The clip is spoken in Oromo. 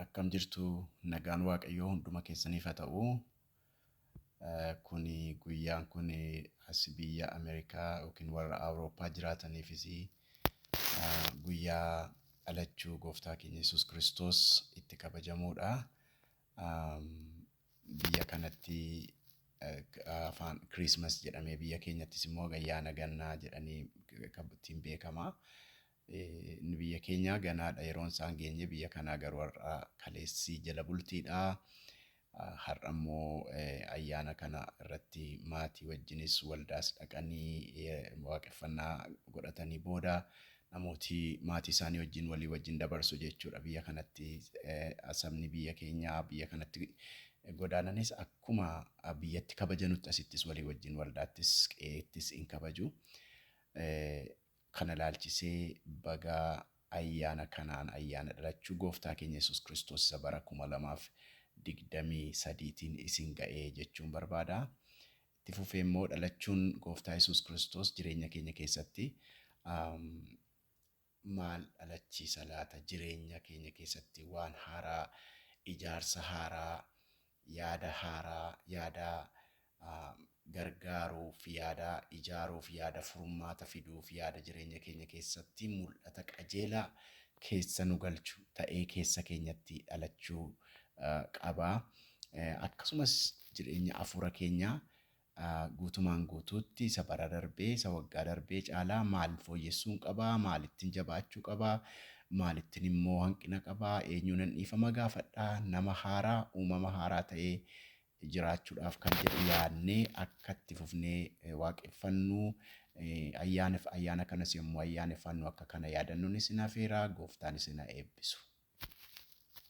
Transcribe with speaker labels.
Speaker 1: Akkam jirtu nagaan waaqayyoo hunduma keessaniif haa ta'u. Kuni guyyaan kun as biyya Ameerikaa yookiin warra Awurooppaa jiraataniifis guyyaa dhalachuu gooftaa keenya Yesuus Kiristoos itti kabajamuudha. Biyya kanatti afaan Kiriismas jedhamee biyya keenyattis immoo ayyaana gannaa jedhanii ittiin beekama. Inni biyya keenyaa ganaadha yeroon isaa hin geenye biyya kanaa garuu har'a kaleessi jala bultiidha. Har'a immoo ayyaana kana irratti maatii wajjinis waldaas dhaqanii waaqeffannaa godhatanii booda namooti maatii isaanii wajjin walii wajjin dabarsu jechuudha. Biyya kanatti sabni biyya keenyaa biyya kanatti godaananis akkuma biyyatti kabajanutti asittis walii wajjin waldaattis qe'eettis in kabaju. Kana ilaalchisee baga ayyaana kanaan ayyaana dhalachuu Gooftaa keenya Yesuus Kiristoos isa bara 2023 tiin isin ga'e jechuun barbaada. Itti fufee immoo dhalachuun Gooftaa Yesuus Kiristoos jireenya keenya keessatti maal dhalachiisa laata? Jireenya keenya keessatti waan haaraa, ijaarsa haaraa, yaada haaraa, yaada gargaaruuf, yaada ijaaruuf, yaada furmaata fiduuf, yaada jireenya keenya keessatti mul'ata qajeelaa keessa nu galchu ta'ee keessa keenyatti dhalachuu qaba. Akkasumas jireenya hafuura keenyaa a Guutumaan guutuutti isa bara darbee, isa waggaa darbee caalaa maal fooyyessuun qaba? Maalittin jabaachuu qaba? Maalittin immoo hanqina qaba? Eenyuunan dhiifama gaafadha? Nama haaraa, uumama haaraa ta'ee jiraachuudhaaf kan jedhu yaadnee akka itti fufnee waaqeffannu, ayyaanef ayyaana kanas yommuu ayyaaneffannu akka kana yaadannuun isin afeera. Gooftaan isin ha eebbisu.